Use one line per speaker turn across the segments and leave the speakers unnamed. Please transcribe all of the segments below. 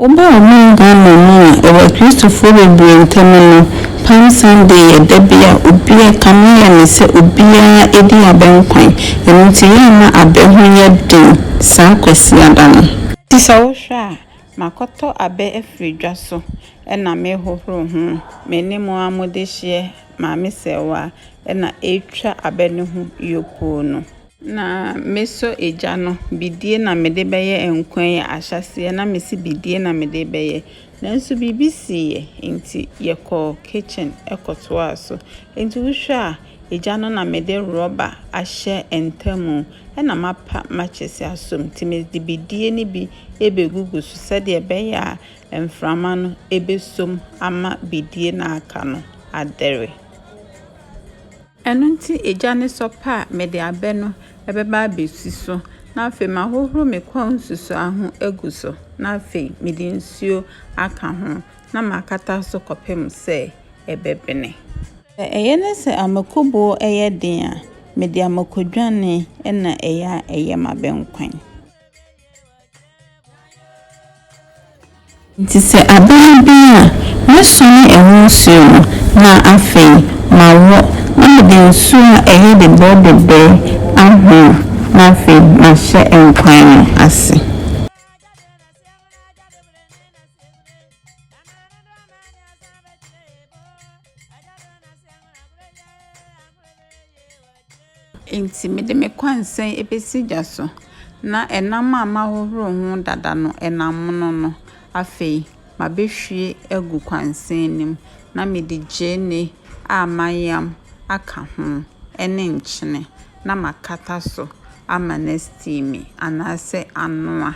Obu a ɔman Ghana mu a ɛwɔ Akristofoɔ bebree ntam no, Palm Sunday yɛ da bi a obi a kame yɛ no sɛ obiara di abɛnkwan. Ɛno nti yɛmma abɛ ho nyɛ den saa Kwasiada no. Enti sɛ wohwɛ a, makɔtɔ abɛ afiri dwa so na merehohoro ho. Me ne mo ara modehyeɛ Maame Serwaa na ɛretwa abɛ no ho yopoo no. Na mesɔ egya no, bidie na mede bɛyɛ nkwa yi ahyɛaseɛ, na mese bidie na mede rebɛyɛ. Nanso biribi siiɛ, enti yɛkɔɔ kitchen kɔtoaa so. Enti wohwɛ a, egya no na mede rɔba ahyɛ ntamu, ɛna mapa matches asɔ mu, nti mede bidie no bi rebɛgugu so sɛdeɛ ɛbɛyɛ a mframa no bɛsɔ mu ama bidie no a aka no adɛre. Ɛno nti egya ne sɔpa a mede abɛ no bɛba abɛsi so, na afei mahohoro me kɔn nsusuaa ho agu so, na afei mede nsuo aka ho, na makata so kɔpem sɛ ɛbɛbene. Sɛ ɛyɛ ne sɛ amakubuo yɛ den a, mede amakuodwane na ɛyɛ a ɛyɛ m'abɛnkwan. Enti sɛ aba no bin a, mɛsɔne ɛho nsuo no, na afei mawo, na mede nsuo a ɛyɛ bebere bebere ahono, na afei mahyɛ nkwan no ase. Enti mede me kwansɛn besi gya so, na nam a mahohoro ho dada no, nam mono no, afei mabehwie agu kwansɛn no mu, na mede gyeene a mayam aka ho ne nkyene na makata so ama no asteame anaasɛ anoa.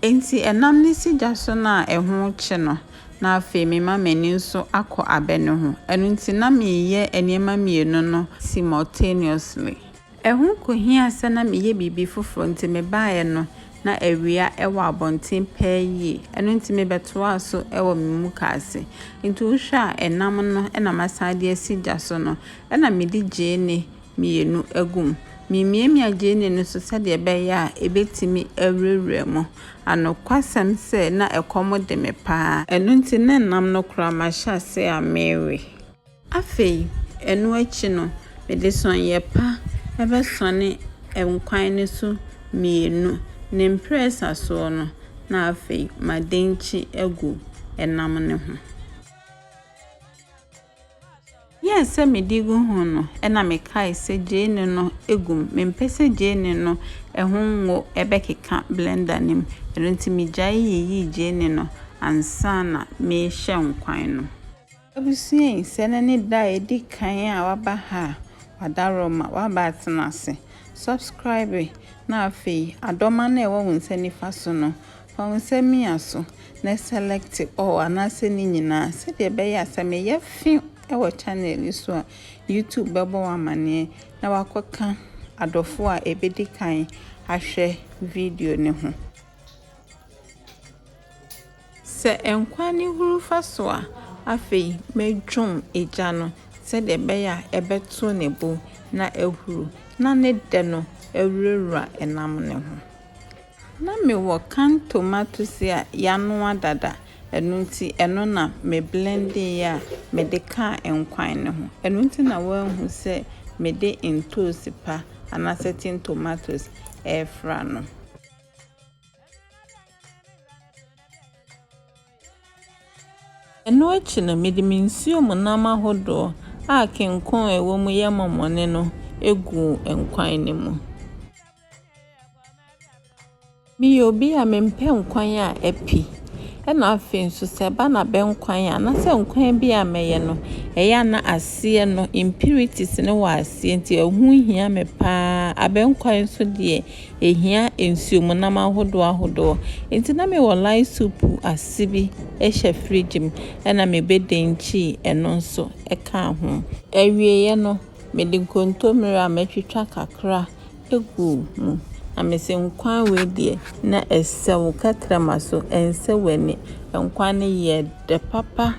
Enti ɛnam ne sigya so no a ɛho rekye no, na afei mema m'ani nso akɔ abɛ no ho. Ɛno nti na mereyɛ nneɛma mmienu no simultaneously. Ɛho kɔhiaa sɛ na meyɛ biribi foforɔ nti mebaeɛ no na awia wɔ abɔnten paa yie. Ɛno nti mebɛtoaa so wɔ me mukaase. Nti wohwɛ a ɛnam no na masan de asi gya so no na mede gyeene mmienu agu mu. Memiamia gyeene no so sɛdeɛ ɛbɛyɛ a ɛbɛtumi awurawura mu. Anokwasɛm sɛ, na ɛkɔm de me pa ara. Ɛno nti, na ɛnam no koraa mahyɛ aseɛ a merewe. Afei, ɛno akyi no, mede sɔneeɛ pa bɛsɔne nkwan no so mmienu. Ne mprɛsa soɔ no, na afei madenkyi agu ɛnam no ho. Yɛɛ sɛ mede gu ho no, ɛnna mekae sɛ gyeene no agu mu. Mempɛ sɛ gyeene no ho ngo bɛkeka blender no mu, ɛno nti migyae yiyii gyeene no ansa na merehyɛ nkwan no. Abusua yi, sɛ ɛnnɛ ne da a edi kan a woaba ha a, w'adaworo ma woaba atena ase. Subscribe na afei adɔma no a ɛwɔ wo nsa nifa so no, Fa wo nsa mia so, na select all anaasɛ ne nyinaa sɛdeɛ ɛbɛyɛ a sɛ meyɛ few wɔ channel yi so a, YouTube bɛbɔ wo amaneɛ na wakɔka adɔfoɔ a ɛbɛdi kan ahwɛ video no ho. Sɛ nkwa ne huru fa so a, afei mɛdwom egya no sɛdeɛ ɛbɛyɛ a ɛbɛto ne bo na ahuru na ne dɛ no awurawura nam ne ho. Na mewɔ can tomatoes a yanoa dada, ɛno nti ɛno na me blendee a mede kaa nkwan no ho. Ɛno nti na woahu sɛ mede ntoosi pa anaa certain tomatoes ɛrefra no. Ɛno akyi no mede me nsuo mu nam ahodoɔ a kenkon a ɛwɔ mu yɛ mɔmɔne no gu nkwan no mu. Meyɛ obi a mempɛ nkwan a api. Ɛna afei nso sɛ ɛba no abɛ nkwan a, na sɛ nkwan bi a mɛyɛ no, ɛyɛ a na aseɛ no impurities no wɔ aseɛ nti ɛho hia me paa. Abɛ nkwan nso deɛ ɛhia nsuo mu nam ahodoɔ ahodoɔ. Nti na mewɔ lye soup ase bi hyɛ fridge mu ɛna mebɛdɛnkyi ɛno nso ɛka ho. Awieɛ no, mede nkontommire a matwitwa kakra Gu mu. Na mese, Nkwa wei deɛ, na ɛsɛ wo kakra ma so, ɛnsɛ w'ani. Nkwa no yɛ dɛ papa.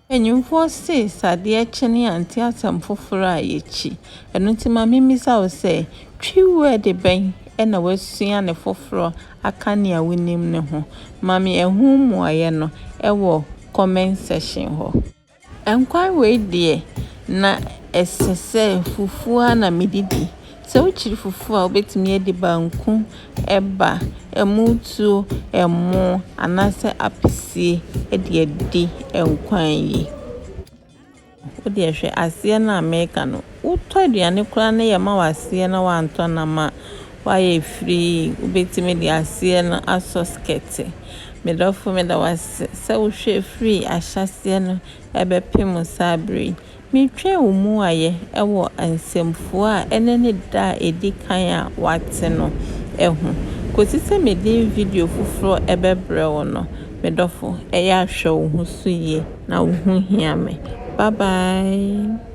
Mpanyimfoɔ se, sɛ adeɛ kye no yɛante asɛm foforɔ a, yɛkyi. Ɛno nti ma memmisa wo sɛ, Twi wɛɛde bɛn na woasua no foforɔ aka nea wonim no ho? Ma me ɛho mmuaeɛ no wɔ comment section hɔ. Nkwan wei deɛ na ɛsɛ sɛ fufuo ara na mede di. Sɛ wokyiri fufuo a, wobɛtumi adi banku, ɛba, ɛmu tuo, ɛmo anaasɛ apesie de adi nkwan yi. Wodeɛ hwɛ aseɛ no a mereka no. Wotɔ aduane koraa na yɛma wo aseɛ na woantɔ no ama woayɛ firii, wobɛtumi de aseɛ no asɔ skɛte. Me dɔfo meda wo ase sɛ wohwɛɛ firii ahyɛaseɛ no bɛpem saa berɛ yi. Metwɛn wo mmuaeɛ wɔ nsɛmfua a ɛnnɛ ne da a ɛdi kan a woate no ho kɔsi sɛ mede video foforɔ bɛbrɛ wo no. Me dɔfo, ɛyɛ a hwɛ wo ho so yie. Na wo ho hia me. Bye bye.